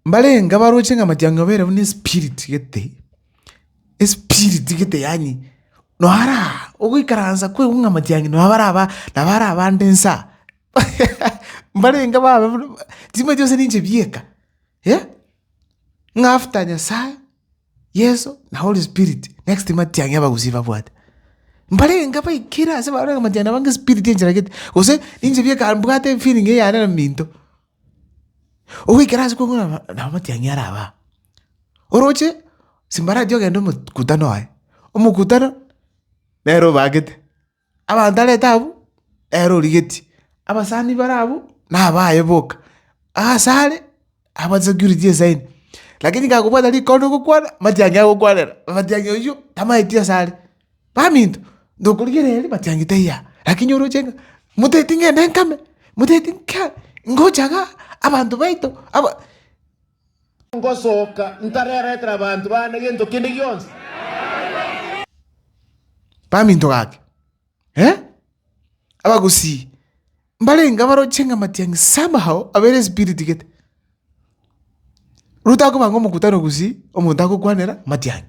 Mbarenge abaroche ng'a amatiang'e obeire buna espiriti gete, espiriti gete yaani nonya ara ogoikaransa kwaigwa ng'a amatiang'e nonya baraba nabo ara abande nsa mbarenge babe buna ching'we chionsi ninchibieka ng'a after Nyasaye. Yeso na Holy Spirit, next time atiang'e abagusii babwate. Mbarenge baikire ase bare ogomatia nabo ng'a espirit enchera gete, gose ninche bi eka mbwate efeeling eyane na minto. Ogoikera ase kong'u naba nabo matiang'i are abaa. Oroche, simbarachi ogenda omokutano aye, omokutano nere obagete. Abanto arete abwo, ere origetie, abasani bare abwo nabaye boka, aase are aba security esaini. Lakini kagobwata rikondo gokwana, matiangi agokwanera, matiangi oyio tamaeti ase are. Baminto, ndokorigereria ere matiangi taiyo aa, lakini oroche ng'a motaeti ng'ende nkame, motaeti nkaa, ngocha igaa, abanto baito aba. Ngosoka ntareretera abanto baane gento kende gionsi. Baminto gake, eh? Abagusii mbarenge abaroche ng'a matiang'i somehow abeire espiriti gete. Rutakobanga omokutano gusii omonto agokwanera matiang'i.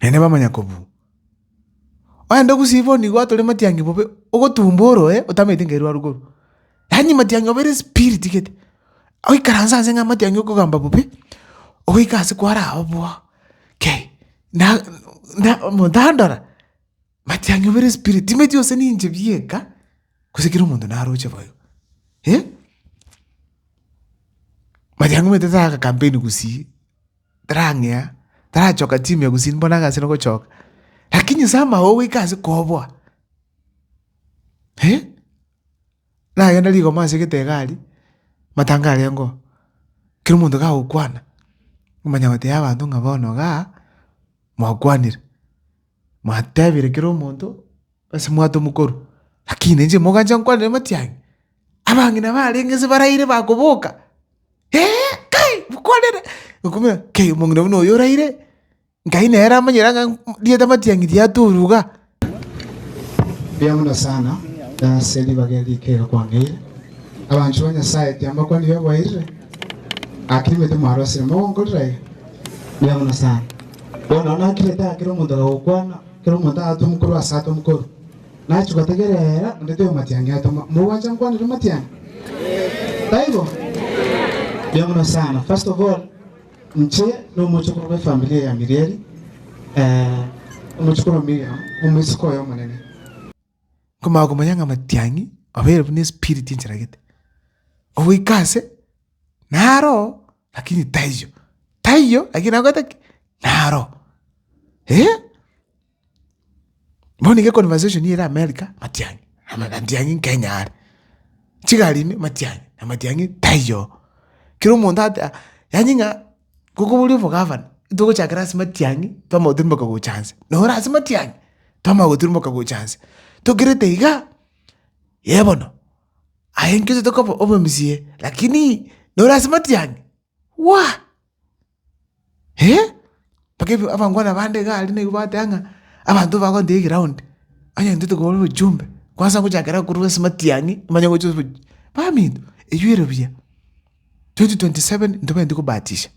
Naende bamanya kobua. Ogende gusii bono igo atore matiangi bobe, ogotumba oroe otamanyeti nka erwaru korwa. Yaani matiangi obeire spirit gete. Oikaranse ase ng'a matiangi okogamba bobe, ogoika ase kwara agwo boo, kei na na omonto andora, matiangi obeire spirit timanyeti gose ninche bieka, gose kera omonto naroche boigo. Matiangi omanyete tara aga campaign gusii. tarang'ea, tarachoka chimia gusii mbone agase nogochoka. Lakini nse amao goika ase koboa, eh, nagenda rigoma ase egete egari, matanga arengeo, kera omonto gagokwana, omanya gotebi abanto ng'a bono igaa mwakwanire. Mwatebire kera omonto ase mwato mokorwa, lakini inche mogancha nkwanere matianyi, abang'ina barenge inse baraire bakoboka, ee, kai mokwanere okomenya, kei omong'ina buna oyo oraire, Nkai nere amanyere ang'ai rieta matiang'i riatorwa iga. Mbuya mono sana ase ribaga eri rikere kwangeire. Abanchwa ba Nyasae tiambakwani biaboeirire, gaki nimanyete mwarosire mogonkorera iga. Mbuya mono sana. Bono nakire taa kera omonto agagokwana, kera omonto agatwa mokoro ase atwa mokoro. Nachia gotegerera, onde toyo matiangi atoma. Mogwacha nkwanere matiangi? Taibo? Mbuya mono sana. First of all, inche nomochokoro bwe familia ya Mirieri, eh, omochokoro Miriam, omosike oye omonene. nkomanya komanya ng'a matiang'i abeire buna espirit encheragete, ogoika ase naroo lakini taiyo, taiyo lakini nakorete ki? Naroo. Eeh! Bono iga econversation ere america matiang'i, ama- matiang'i kenya are, chigari ime matiang'i, amatiang'i taiyo. Kera omonto ata- yaani ng'a Goka boria obogavana, ntogochakera ase matiang'i, twamanya goturimoka gocha nse. Noro ase matiang'i, twamanya goturimoka gocha nse. Tokerete igaa, ee bono, aye nkio totoka obo- obomsie, lakini noro ase matiang'i, waa! mpaka ebi abangwana bande igaa aria naibo bagoteeba ng'a abanto bagoteeba eground, onye intwe tokobaa obochumbe, kwansa ngochakera korwa ase matiang'i, nimanye gocha oboch, baminto, eywo ere buya. 2027 ntobwenereti kobatisha,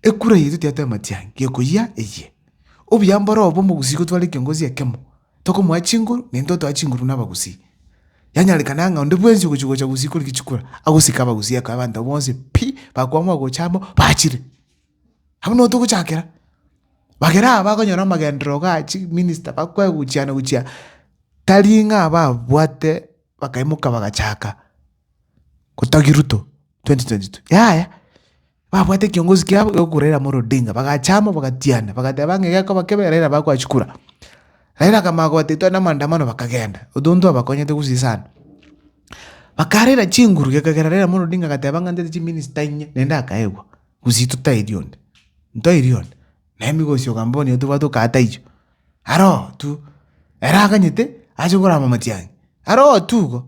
ekura yaito tiyato y'amatiangi, gekoyia eyie. Obuya mborobe omogusii gotware ekiongozi ekemo, tokomoa chinguru, naintwe totoa chinguru na abagusii. Yanyarekana ng'a onde bwensi ogochia gocha gusii koriki chikura, agosike abagusii akoe abanto abwo bonsi pi, bakwama ogocha amo, bachire. Abwo nigo togochakera. Bagere aba bakonyora amagenderero ga chiminista bakwae gochiana gochia tari ng'a babwate bakaimoka bagachaka. Gotagi Ruto 2022 yaya babwate ekiongosi kiabo egoku Raila Amolo Odinga bagachama bagatiana bagateba ng'a gekoba kebe Raila bakwachia kura. Raila akamanya kobata etware na amaandamano bakagenda otonto twabakonyete gose sana. Bakarera chinguru gekagera Raila Amolo Odinga agateba ng'a ntete chiminista inye naende akaegwa gose totairi onde ntoiri onde na emegosi okamba bono nigo tobwate okaa taiyo aroo tu. Ere aganyete ache korama matiang'i aroo tu igo.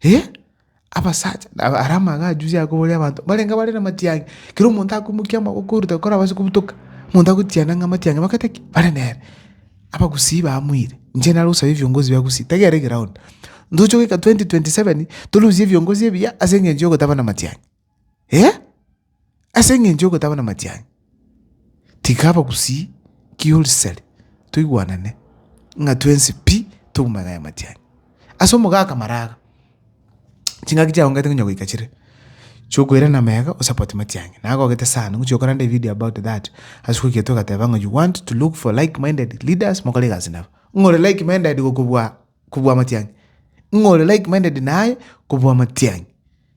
Eh! Abasacha, nabo aria amang'ana ajuja akoboria abanto, mbarenge bare namatiangi, kera omonto akomokia amaboko korwa korabase kobutoka, omonto agotiana ng'a amatiangi abagete ki? Bare nere. Abagusii bamoire, inche nare osaba ebiongozi bia gusii, tari are egeround. Ntoche goika twenty twenty seven, torusie ebiongozi ebiya aseng'encho ya ogotaba namatiangi. eh, ase eng'encho y'ogotaba namatianyi. Tiga abagusii kiurisari toigwanane ng'a twensi pi toumanye aya matianyi. Ase omogaka maraga, chingaki chiaongete konya goika chire chiokoirana mega osupport matianyi. Nagogete sana ngochia okorande evideo about that ase goika togateba ng'a you want to look for like minded leaders mokore egasi nabo. Ng'a ore like minded gokobua kobua amatianyi, ng'a ore like minded naye kobua amatianyi.